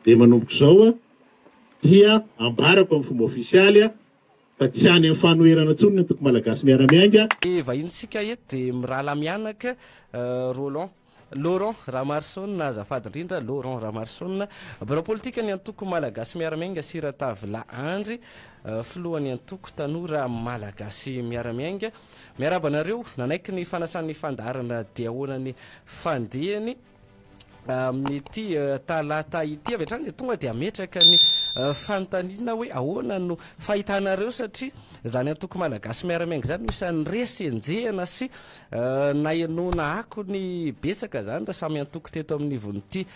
Dia manomboka izao dia ambarako amin'ny fomba ofisialy fa tsy any amin'ny fanoherana intsony ny antoko Malagasy Miara-Miainga. Hevahintsika eto dia mirahalahy mianaka Roland. Laurent Ramaroson, azafady indrindra, Laurent Ramaroson, birao politikan'ny antoko Malagasy Miara-Miainga sy Ratavila Andry, filohan'ny antoko tanora Malagasy Miara-Miainga. Miarahaba anareo. Nanaiky ny fanasan'ny fandaharana diaona ny fandehany. amin'ity talata ity avy hatrany dia tonga dia ametraka ny fanontaniana hoe ahoana no fahitanareo satria izany antoko malagasy miara-miainga izany no isan'ny resy enjehina sy nahenoana akony betsaka izany raha samy antoko teto amin'ny ivon'ity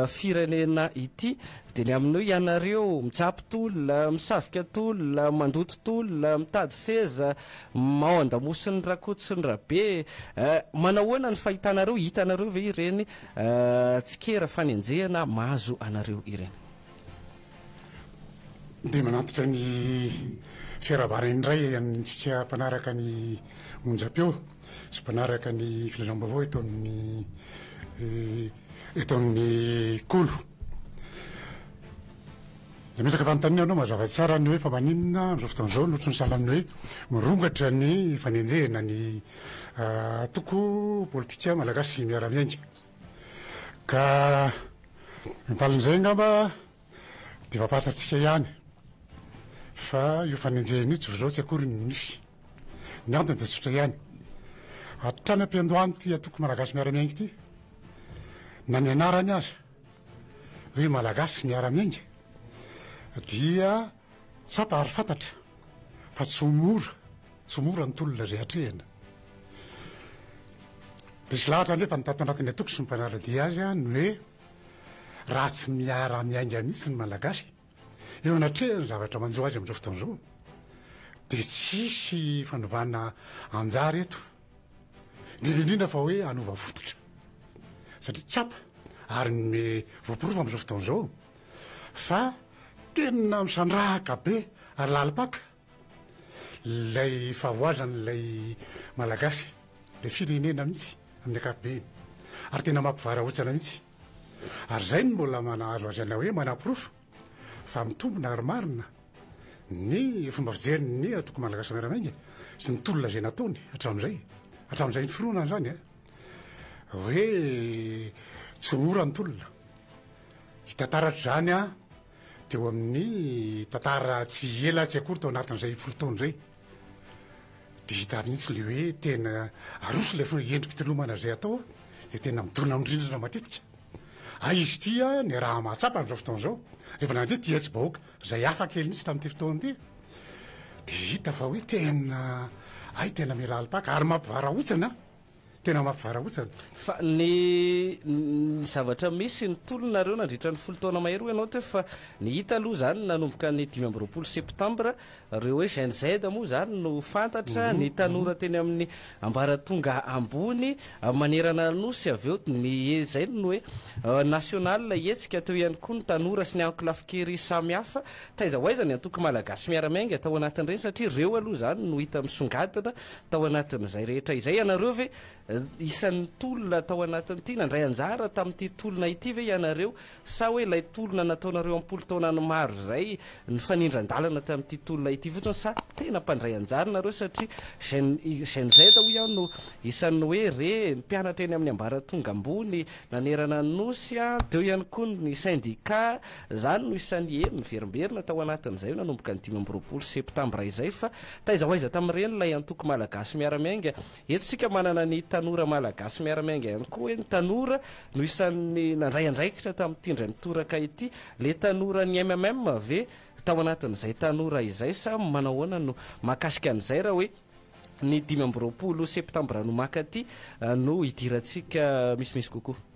firenena ity dia ny amin'io ianareo mitsapy tolona misavika tolona mandoto tolona mitady seza Humm ao andamosin'ny rakotosin'ny rabe eh, manahoana ny fahitanareo, hitanareo ve ireny eh, tsikera fanenjehana mahazo anareo ireny? Dia manantitra ny fiarahabana indray antsika mpanaraka ny onjam-peo sy mpanaraka ny filazam-baovao eto amin'ny eto amin'ny Kolo. Dia metraka fanontaniana ianao mazava tsara ny hoe fa maninona amin'izao fotoana izao no tsy misahala amin'ny hoe mirongatra ny fanenjehana ny antoko politika malagasy miara-miainga. Ka ny valin'izay angamba dia efa fantatsika ihany fa io fanenjehana io tsy vao izao tsy akory no nisy. Ny antony dia tsotra ihany, hatrany am-piandohan'ity antoko malagasy miara-miainga ity na ny anarany aza, Ry Malagasy miara-miainga dia tsapa ary fantatra fa tsy ho mora, tsy ho mora ny tolona izay atrehina. Misy lahatra anefa ny tato anatin'ny antoko sy ny mpanara-dia azy ny hoe raha tsy miara-miainga mihitsy ny Malagasy, Eo anatrehan'ny zavatra manjo azy amin'izao fotoana izao dia tsy hisy fanovana anjara eto, indrindra indrindra fa hoe hanova fototra. Satria tsapa ary ny voaporofo amin'izao fotoana izao fa tena misandrahaka be ary lalim-paka Ilay fahavoazan' ilay Malagasy, ilay firenena mihitsy amin'ny ankapobeny, ary tena mampivarahontsana mihitsy. Ary izay no mbola mahazo azy anay hoe manaporofo fa mitombina ary marina ny fomba fijerin' ny Antoko Malagasy Miara-Miainga sy ny tolona izay nataony hatramin'izay, hatramin'izay niforonany izany, hoe tsy ho mora ny tolona. Hita taratra izany. Teo amin'ny tantara tsy ela tsy akory tao anatin'izay folo taona izay dia hita mihitsy ilay hoe tena aroso ilay fo- endri-pitolomana izay atao a, dia tena midona amin'ny rindrina matetika. Hay izy ity a, ny raha mahatsapa amin'izao fotoana izao, rehefa nandeha ity hetsi-bahoaka izay hafa kely mihitsy tamin'ity fotoana ity, dia hita fa hoe tena hay tena mila alim-paka ary mampivarahontsana Tena mafy varahotsana. Fa ny ny zavatra misy ny tolonareo nandritra ny folo taona mahery hoy ianao teo fa ny hita aloha izany nanomboka ny dimy amby roapolo septambra ireo hoe Gen Z moa izany no fantatra ny tanora teny amin'ny ambaratonga ambony manerana ny Nosy avy eo ny izay no hoe national hetsika teo ihany koa ny tanora sy ny ankolafin-kery samihafa taiza ho aiza ny antoko malagasy miara-miainga tao anatin'ireny satria ireo aloha izany no hita misongadina Tao anatin'izay rehetra izay ianareo ve? Isan'ny tolona tao anatin'ity, nandray anjara tamin'ity tolona ity ve ianareo? Sa hoe ilay tolona nataonareo am-polo taona ny maro izay, nifanindran-dalana tamin'ity tolona ity fotsiny? Sa tena mpandray anjara nareo satria Gen Gen Z hoy aho no isan'ny hoe re, mpianatra eny amin'ny ambaratonga ambony nanerana ny Nosy a, teo ihany koa ny sendika, izany no isan'ny eny niverimberina tao anatin'izay nanomboka ny dimy amby roapolo septambra izay fa Taiza ho aiza tamin'ireny ilay antoko Malagasy miara-miainga? Eto isika manana ny tanora Malagasy miara-miainga ihany koa hoe ny tanora no isan'ny nandray andraikitra tamin'ity indray mitoraka ity. Ilay tanoran'ny MMM ve tao anatin'izay tanora izay sa manao ahoana no mahakasika an'izay raha hoe ny dimy amby roapolo septambra no maka aty no hidirantsika misimisy kokoa?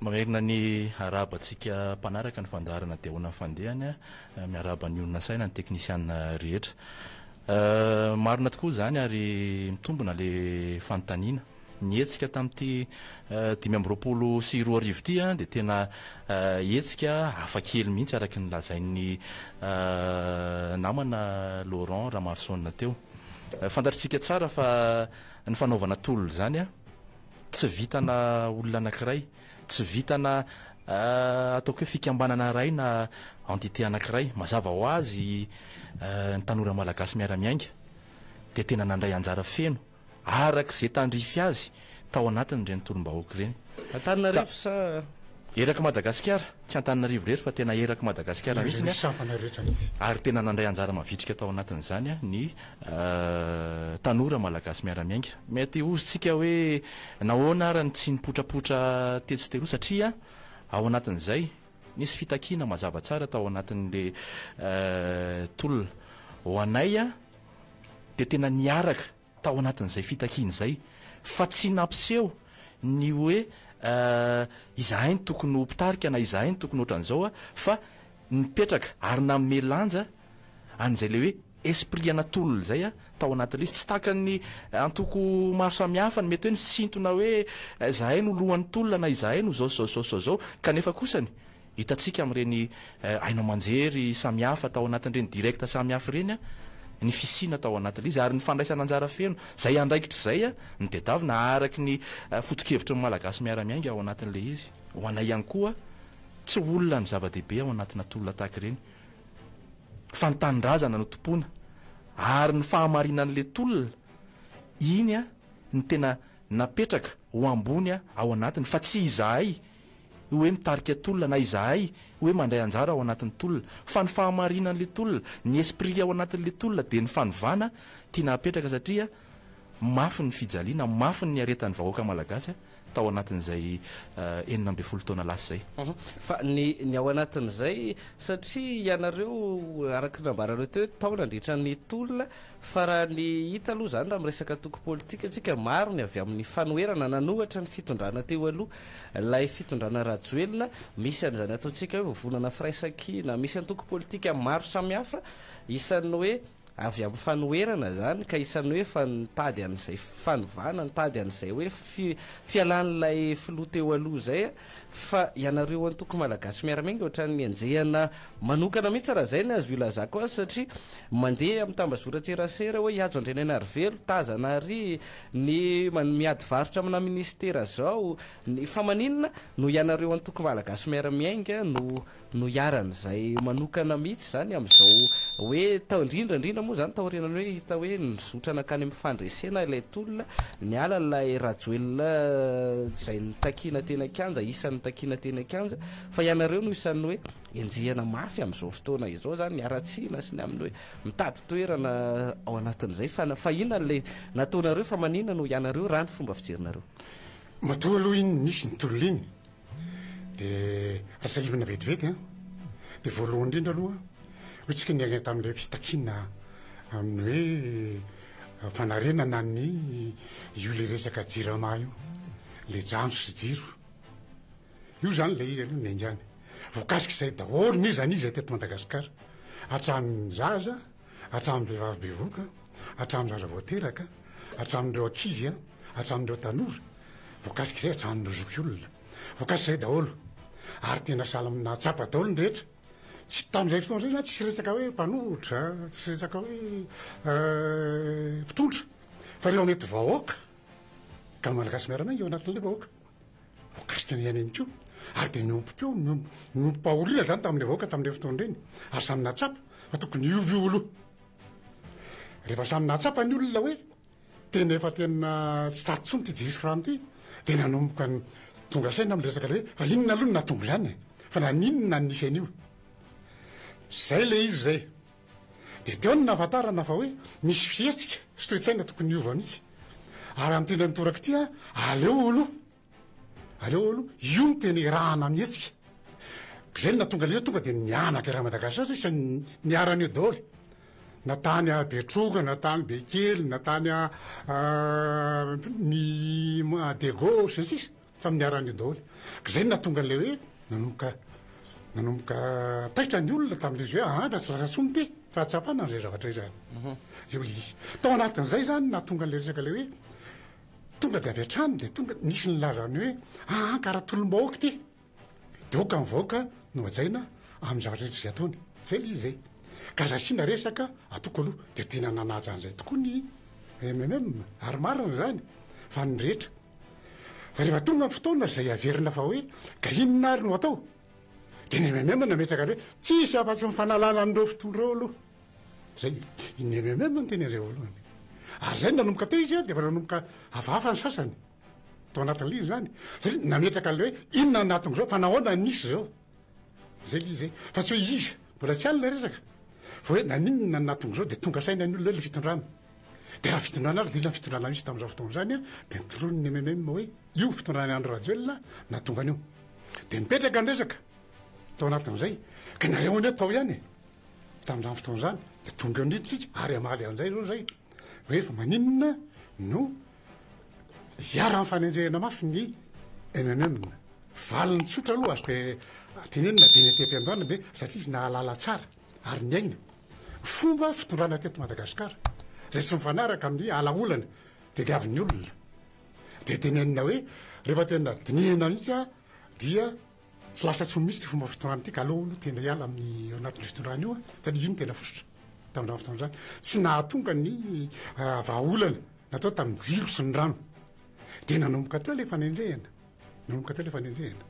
Mamerina ny arahaba antsika mpanaraka ny fandaharana dia ahoana ny fandehany a. Miarahaba ny olona saina ny teknisiana rehetra. Marina tokoa izany ary mitombina le fanontaniana. Ny hetsika tamin'ity dimy amby roapolo sy roa arivo ity a dia tena hetsika hafa kely mihitsy araka ny lazain'ny namana Laurent Ramarosaona teo. Fantatritsika tsara fa ny fanaovana tolona izany a. Tsy vitana olona anankiray, tsy vitana ataoko hoe fikambanana iray na entité anankiray. Mazava ho azy ny tanora malagasy miara-miainga dia tena nandray anjara feno araka izay tandrify azy tao anatin'ireny tolom-bahoaka ireny. Antananarivo sa? Erak'i Madagasikara, tsy Antananarivo irery fa tena erak'i Madagasikara mihitsy, ary tena nandray anjara mavitrika tao anatin'izany ny tanora malagasy miara-miainga. Mety hozontsika hoe nahoana ary ny tsy nipotrapotra tetsy sy teroa satria ao anatin'izay nisy fitakiana mazava tsara tao anatin'le tolona. Ho anay dia tena niaraka tao anatin'izay fitakiana izay fa tsy nampiseho ny hoe izahay no tokony ho mpitarika na izahay no tokony ohatran'izao fa nipetraka ary nanome lanja an'izay le hoe Esprit ana tolona zay a tao anaty lisy tsy takan'ny antoko maro samihafa ny mety hoe nisintona hoe zahay no lohan'ny tolona na izahay no zao sy zao sy zao sy zao zao kanefa kosany hitantsika amin'ireny haino aman-jery samihafa tao anatin'ireny direct samihafa ireny a ny fisiana tao anaty lisy ary ny fandraisana anjara feno zay andraikitra izay a ny tedavina araky ny foto-kevitry ny malagasy miara-miainga ao anatin'ilay izy ho anay ihany koa tsy olona ny zava-dehibe ao anatina tolona tahaka ireny fa ny tanindrazana no tompoina ary ny fahamarinan'le tolona iny no tena napetraka ho ambony ao anatiny fa tsy izahay hoe mitarika tolona na izahay hoe mandray anjara ao anatin'ny tolona fa ny fahamarinan'le tolona, ny esprit ao anatin'le tolona dia ny fanovana tiana hapetraka satria. Mafy ny fijaliana, mafy ny niaretan'ny vahoaka malagasy tao anatin'izay enina ambin'ny folo taona lasa izay. Fa ny ny ao anatin'izay, satria ianareo araka ny nambaranareo teo hoe tao nandritra ny tolona, fa raha ny hita aloha izany raha miresaka antoko politika isika, maro ny avy amin'ny fanoherana nanohatra ny fitondrana teo aloha, ilay fitondrana Rajoelina, misy an'izany ataontsika hoe vovonana firaisankina, misy antoko politika maro samihafa, isan'ny hoe. Avy amin'ny fanoherana izany ka isan'ny hoe fa nitady an'izay fanovana, nitady an'izay hoe fi, fialan'ilay filoha teo aloha izay a. Fa ianareo antoko malagasy miara-miainga ohatran'ny henjehana manokana mihitsy raha izay ny azo ilazako azy satria mandeha amin'ny tambazoran-tserasera hoe hihajo Andrianainarivelo, tazana àry ny man, miady varotra aminà minisitera izao, ny, fa maninona no ianareo antoko malagasy miara-miainga no no iharan' izay manokana mihitsy izany amin' izao hoe tao indrindra indrindra moa izany taorianany hoe hita hoe nizotra nankany amin' ny fandresena ilay tolona niala ilay Rajoelina izay nitakiana teny an-kianja isan' ny nitakiana teny an-kianja fa ianareo no isan' ny hoe enjehina mafy amin' izao fotoana izao izany haratsiana sy ny amin' ny hoe mitady toerana ao anatin' izay fa fa inona ilay nataonareo fa maninona no ianareo raha ny fomba fijerinareo? Matoa aloha iny nisy ny tolona iny dia asahivina vetivety an dia voalohany indrindra aloha hoe tsika ny aina tamin'ilay fitakiana amin'ny hoe eh, fanarenana ny io le resaka jirama io le jano sy jiro io zany le izy aloha ny aingany vokasik'izay daholo ny zanizay teto madagasikara hatramin'ny zaza hatramin'ny vehivavy bevoka, hatramin'ny zaza vao teraka, hatramin'ireo ankizy, hatramin'ireo tanora, voakasik'izay hatramin'ireo zokiolona. Voakasik'izay daholo. Ary tena sahala amin'ny nahatsapa daholo ny rehetra. Tsy tamin'izay fotoana izay zany tsisy resaka hoe mpanohitra, tsisy resaka hoe mpitondra, fa ireo mety vahoaka, ka ny Malagasy miara-miainga ao anatin'ilay vahoaka. Voakasika ny aina ihany koa, ary dia niompy koa, niompim-pahoriana izany tamin'ilay vahoaka tamin'ireny fotoana ireny, ary samy nahatsapa fa tokony hiova io aloha. Rehefa samy nahatsapa ny olona hoe tena efa tena tsy tady intsony ity Djihis Khan ity, dia nanomboka tonga saina amin'ny resaka ilay hoe fa inona aloha no nahatonga izany e? Fa naninona no nisy an'io? Izay ilay izy izay. Dia teo no nahafantarana fa hoe misy fihetsika sy toe-tsaina tokony hiova mihitsy. Ary amin'ny teny an-toraka ity an, aleo aloha, aleo aloha, io no tena erahana mihetsika. Izay no nahatonga an'ireo tonga dia nihanaka eran'i Madagasikara satria izay niharan'ny eo daholo. Na tany Betroka, na tany Bekily, na tany ny Degauche, sy ny sisa. Samy niara-nio daholo. K'izay no nahatonga an'ilay hoe nanomboka nanomboka taitra ny olona tamin'izy hoe aa raha tsy lasa soa mite fahatsapana an'izay zavatra izay. Io ilay izy. Tao anatin'izay izany no nahatonga an'ilay resaka ilay hoe tonga dia avy hatrany dia tonga nisy nilaza ny hoe aa ka raha tolom-bahoaka ity dia aoka ny vahoaka no hajaina amin'ny zavatra rehetra izay ataony. Izay ilay izy izay. Ka aza asiana resaka atoko aloha. Dia tena nanaja an'izay tokoa ny MMM ary marina izany fa ny rehetra Fa rehefa tonga ny fotoana izay averina fa hoe ka inona ary no atao? Dia ny MMM no nametraka ny hoe tsisy afa-tsy ny fanalana an'ireo fitondra ireo aloha. Izay ny MMM no teny indray voalohany. Ary izay no nanomboka teo izy dia efa nanomboka hafahafa ny sasany tao anatin'ilay izy izany. Satria nametraka an'ilay hoe inona no nahatonga izao fa nahoana no nisy izao. Izay ilay izy izay. Fa tsy hoe iza. Mbola tsy any ilay resaka. Fa hoe naninona no nahatonga izao dia tonga saina ny olona hoe ilay fitondrana. Dia raha fitondrana ary indrindra ny fitondrana misy tamin'izao fotoana izany dia nitoroany ny MMM hoe io fitondrana Andry Rajoelina nahatonga an'io. Dia nipetraka ny resaka tao anatin'izay. Ka nareo anie tao ihany e. Tamin'izany fotoana izany dia tonga eo niditsika ary hamaly an'izay izao izay. Hoe fa maninona no iharan'ny fanenjehana mafy ny MMM. Valiny tsotra aloha azoko tenenina dia ny aty am-piandohana dia satria izy nahalala tsara. ary niaina fomba fitondrana teto Madagasikara izay tsy mifanaraka amin'ny alaolana tediavin'ny olona. Dia tenenina hoe rehefa tena dinihina mihitsy aho dia tsy lasa tsy ho misy ity fomba fitondrana ity ka aleo aloha tena hiala amin'ny ao anatin'ny fitondrana io aho satria iny tena fototra tamin'izany fotoana izany tsy nahatonga ny ah, vahaolana natao tamin'ny jiro sy ny rano. Dia nanomboka teo ilay fanenjehana. Nanomboka teo ilay fanenjehana.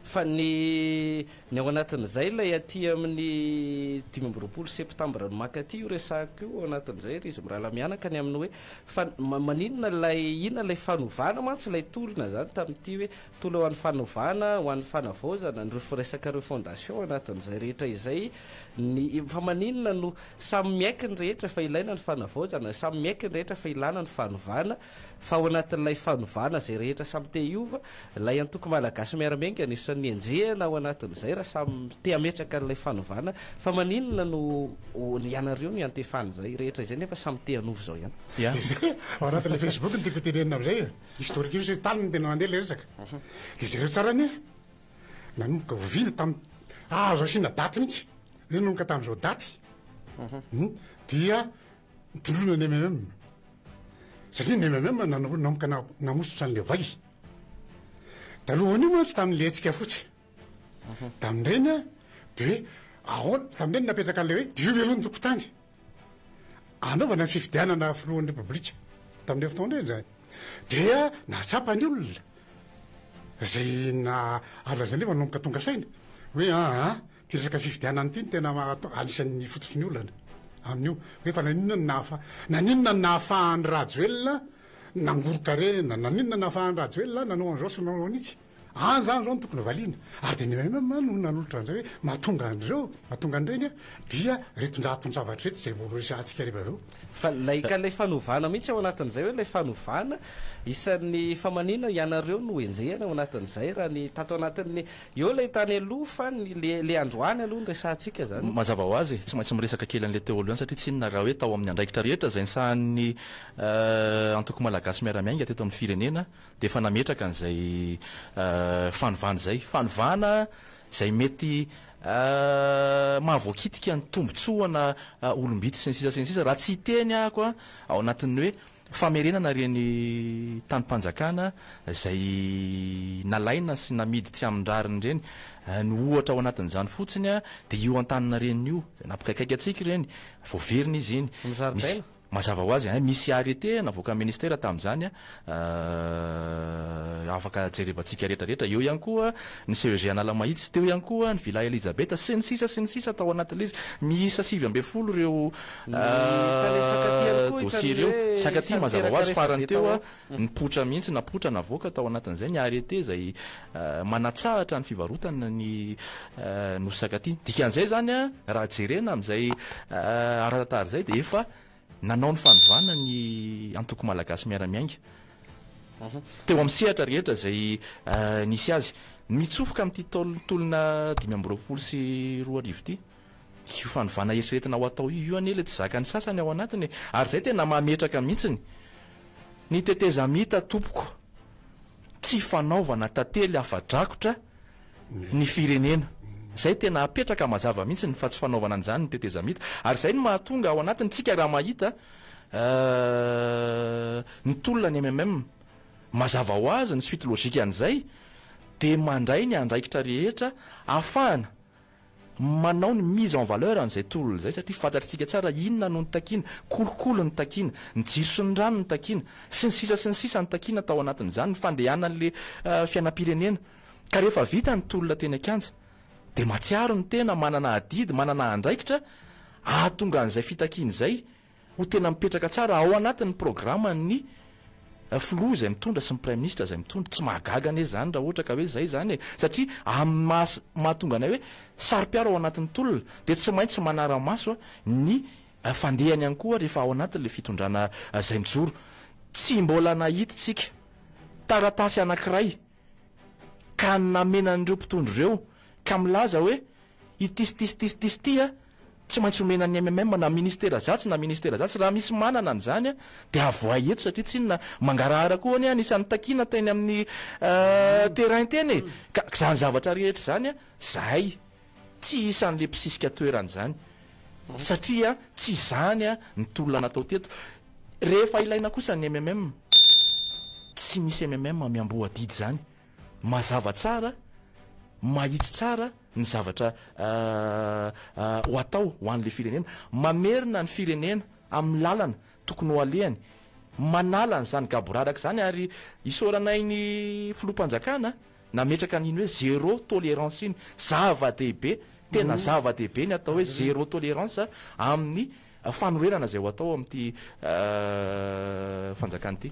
Fa ny ny ao anatin'izay ilay aty amin'ny dimy amby roapolo septambra no mankaty io resahako io ao anatin'izay ry izy mirahalahy mianaka ny amin'ny hoe fa maninona ilay inona ilay fanovana mantsy ilay tolona izany tamin'ity hoe tolona ho an'ny fanovana ho an'ny fanavaozana ny resaka refondation ao anatin'izay rehetra izay ny fa maninona no samy miaiky ny rehetra fa ilaina ny fanavaozana samy miaiky ny rehetra fa ilana ny fanovana Fa ao anatin'ilay fanovana izay rehetra samy te hiova, ilay antoko Malagasy Miara-miainga anisan'ny henjehina ao anatin'izay raha samy te hametraka an'ilay fanovana, fa maninona no ianareo no iantefana izay rehetra izay nefa samy te hanova izao ihany? Dia ao anatin'ilay Facebook no tiako hotenenina amin'izay e! Historique io tany no tena nandeha ilay resaka. Dia jereo tsara anie e! Nanomboka oviana tamin'ny, azo asiana daty mihitsy, hoe nanomboka tamin'izao daty, dia Tondroina ny MMM, satria ny MMM nanomboka namosotra an'ilay vay. Talohan'io mantsy tamin'ilay hetsika fotsy. Mhm. Tamin'ireny dia hoe ahoana, tamin'ireny napetraka an'ilay hoe diovy aloha ny tompon-tany. Anaovana ny fifidianana filohan'ny Repoblika tamin'ireny fotoana ireny izany. Dia nahatsapa ny olona izay na alazanay manomboka tonga saina hoe aa. Ity resaka fifidianana ity no tena anisan'ny fototry ny olana amin'io hoe fa naninona no nahafa- naninona no nahafahan'i Rajoelina nangoron-karena, naninona no nahafahan'i Rajoelina nanao an'izao sy nanao an'itsy. Any izany izao no tokony valiana. Ary dia ny MMM no nanolotra an'izay hoe mahatonga an'ireo, mahatonga an'ireny an, dia reton-draton-javatra ireto izay horesahantsika rehefa avy eo. Fa ilay, ka ilay fanovana mihitsy ao anatin'izay hoe ilay fanovana, isan'ny, fa maninona ianareo no enjehina ao anatin'izay raha ny tato anatin'ny Eo ilay tany aloha fa ny le le androany aloha no resahantsika zany. Mazava ho azy e, tsy maintsy miresaka kely an'ilay teo aloha ihany satria tsy inona raha hoe tao amin'ny andraikitra rehetra izay nisahanin'ny Antoko Malagasy Miara-miainga teto amin'ny firenena dia efa nametraka an'izay fanovana izay. Fanovana izay mety mahavoakitika ny tombontsoana olom-bitsy sy ny sisa sy ny sisa raha tsy hiteny ahako ao anatin'ny hoe Famerenana ireny tanim-panjakana izay nalaina sy namidy tsy amin-drariny ireny. Ny ohatra ao anatin'izany fotsiny dia io Antaninarenina io, izay nampikaikaika antsika ireny. Voaverina izy iny. Ny zaridaina? Mazava ho azy, misy arrêté navoakan'ny Ministera tamin'izany, afaka jerevantsika rehetrarehetra. Eo ihany koa ny CEG Analamahitsy, teo ihany koa ny Villa Elisabeth, sy ny sisa sy ny sisa tao anatin'ilay izy. Miisa sivy ambin'ny folo ireo Ahh dossier ireo. Sakatia mazava ho azy farany teo nipoitra mihitsy napoitra navoaka tao anatin'izay ny arrêté izay manatsahatra ny fivarotana ny nosy sakatia. Dikan'izay izany raha jerena amin'izay ara-tantara izay dia efa nanao ny fanovana ny antoko malagasy miara-miainga teo amin'ny sehatra rehetra izay nisy azy. Mitsofoka amin'ity taolona dimy amby roapolo sy roa arivo ity. Io fanovana eritreretina ho atao io anie ilay tsy zakan'ny sasany ao anatiny e! Ary izay tena mametraka mihitsiny. Ny tetezamita tompoko, tsy fanaovana tantely afa-drakotra ny firenena. Izay tena apetraka mazava mihitsiny fa tsy fanaovana an'izany ny tetezamita. Ary izay no mahatonga ao anatiny tsika raha mahita ny tolona ny MMM, mazava ho azy ny suite logique an'izay dia mandray ny andraikitra rehetra afahana manao ny mise en valeur an'izay tolona izay satria fantatritsika tsara inona no nitakiana, kolikoly no takiana, ny jiro sy ny rano no takiana, sy ny sisa sy ny sisa no takiana tao anatin'izany ny fandehanan'ilay fiainam-pirenena. Ka rehefa vita ny tolona teny an-kianja dia mahatsiaro ny tena manana adidy, manana andraikitra hahatonga an'izay fitakiana izay ho tena mipetraka tsara ao anatin'ny programan'ny filoha izay mitondra sy ny praiminisitra izay mitondra. Tsy mahagaga anie izany raha ohatra ka hoe izay izany e! Satria amin'ny maha mahatonga anay hoe saro-piaro ao anatin'ny tolona dia tsy maintsy manara-maso ny fandehany ihany koa rehefa ao anatin'ilay fitondrana izay mijoro. Tsy mbola nahitintsika taratasy anankiray ka namena an'ireo mpitondra ireo ka milaza hoe. Ity sy ity sy ity sy ity sy ity tsy maintsy omena ny MMM na ministera zatsy na ministera zatsy, raha misy manana an'izany dia avoahy eto satria tsy inona mangarahara koa anie anisan'ny takiana teny amin'ny terrain teny e! ka izany zavatra rehetra izany zahay tsy isan'le mpisisika toerana izany satria tsy izany ny tolona natao teto, rehefa ilaina kosa ny MMM tsy misy MMM miamboho adidy izany. Mazava tsara, mahitsy tsara ny zavatra ho atao ho an'ilay firenena. Mamerina ny firenena amin'ny lalana tokony ho alehany, manala an'izany gaboraraka izany ary isaoranay ny Filoham-panjakana nametraka an'iny hoe zéro tolérance iny. Zava-dehibe, tena zava-dehibe ny atao hoe zéro tolérance amin'ny fanoherana izay ho atao ao amin'ity Fanjakana ity.